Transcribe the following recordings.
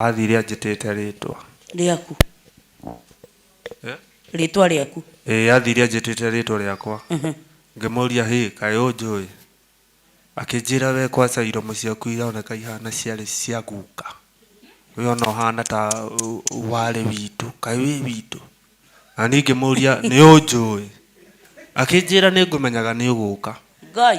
Athire anjĩtĩte rĩtwa. Rĩaku. Eh? Rĩtwa rĩaku. Ĩĩ athire anjĩtĩte rĩtwa rĩakwa. Ngĩmũria hĩ kaĩ ũnjũĩ? Akĩnjĩra we kwaca iromo ciaku ironeka ihana ciarĩ cia guka. We ona ũhana ta uh, warĩ witũ. Kaĩ wĩ witũ? Na niĩ ngĩmũria nĩ ũnjũĩ? Akĩnjĩra nĩ ngũmenyaga nĩ ũgũka. Ngai.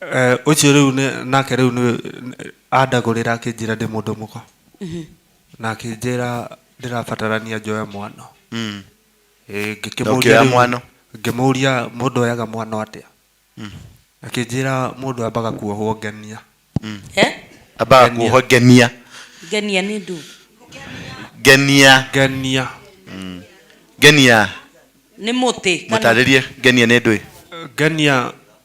Eh, ũcio rĩu nĩ- nake rĩu nĩ andagũrĩra akĩnjĩra ndĩ mũndũ mũka na akĩnjĩra ndĩrabatarania njoe mwano Mm. Eh, ngĩkĩmũria Na ũkĩoya rĩu- mwano? ngĩmũria mũndũ oyaga mwano atĩa akĩnjĩra mũndũ ambaga kuohwo ngenia Eh? ambaga kuohwo ngenia ngenia nĩ ndũ ngenia ngenia ngenia nĩ mũtĩ kana- mũtarĩrie ngenia nĩ ndwĩ ngenia